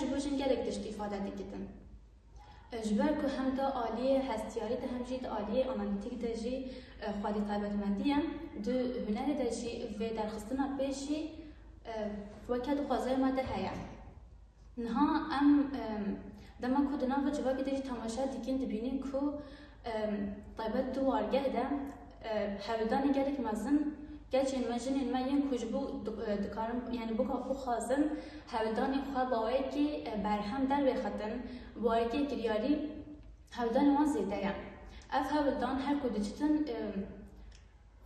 ji bo jin gelek tişt îfade dikitin. Ji ber ku hem di aliyê hestiyarî de hem jî di aliyê analîtîk de jî xwedî taybetmendî ye, di hunerê de jî vê derxistina pêşî weke di xwezayê me de heye. Niha em dema ku di nava civakê de jî temaşe dikîn dibînîn ku Taybet di wargeh de hewldanê gelek mezin Keçên me, jinên me yên ku ji bo dikarin yanî boka xwe xwazin hewldanê xwe baweyekî berhem dervêxetin bi warîkê kiryarî hewldanê wan zêde ye. Ev hewldan her ku diçitin.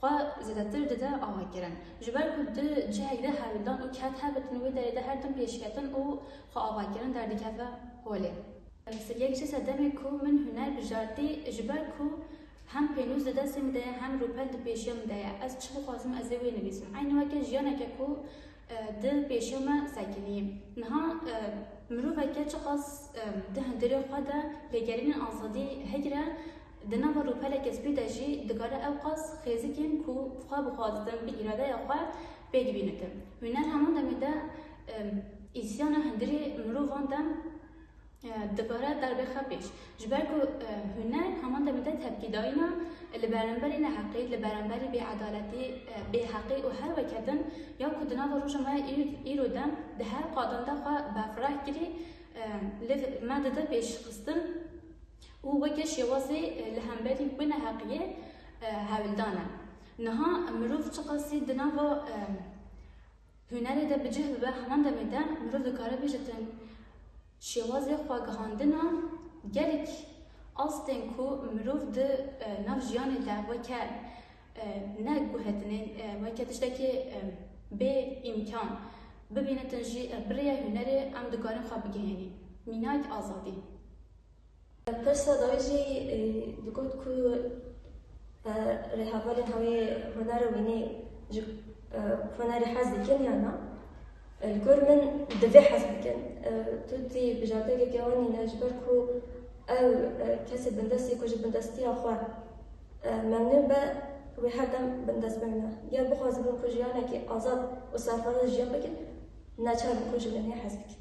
xwe zêdetir dide avakirin. Ji ber ku di cihek de hewldan û ked hebe din wê derê de her tim pêşketin û xwe avakirin derdikeve holê. Yek ji sedemê ku min huner bijartî ji ber ku hem pênûs di destê min de ye hem rûpel di pêşiya min de ye. Ez çi bixwazim ez ê wê nivîsim. Eynî weke jiyaneke ku Di pêşiya me sekiniye. Niha miroveke çiqas di hundirê xwe de lêgerînên azadî hegire, di nava rûpeleke spî de jî dikare ewqas xêzikên ku xwe bixwazibin bi îradeya xwe pê dibînitin. Wî ne heman demê de îsyana hundirê mirovan de. Di vera derbê xwe pêş. Ji ber ku huner heman demê de tepkîdayîna li beramberî neheqî, li beramberî bêedaletî, bêheqî û her weke din ya ku di nava roja me ya îro de di her qadan de xwe befireh kirî li me dide pêşxistin û weke şêwazê li hemberî wê neheqiyê hewldan e. Niha mirov çiqasî di nava Hunerê de bi cih bibe, heman demê de mirov dikare bêjtin şêwazê xwegihandina gelek astên ku mirov di nav jiyanê de weke ne guhetinê, weke tiştekê bê îmkan bibînitin jî bi rêya hunerê em dikarin xwe bigihênîn mînayek azadî. Pirsa dawî jî digot ku rêhevalên hawê hunera wî nê ji hunerê hez dikin yan na. Li gor min divê hez bikin. Tu dî bijardekeke wan î ne ji ber ku ew kesê bindest î ku ji bindestiya xwe memnûn be wê her dem bindest bimîne. Ger bixwazibin ku jiyanekî azad û serfiraz jiyan bikin neçar in ku ji wê nê hez bikin.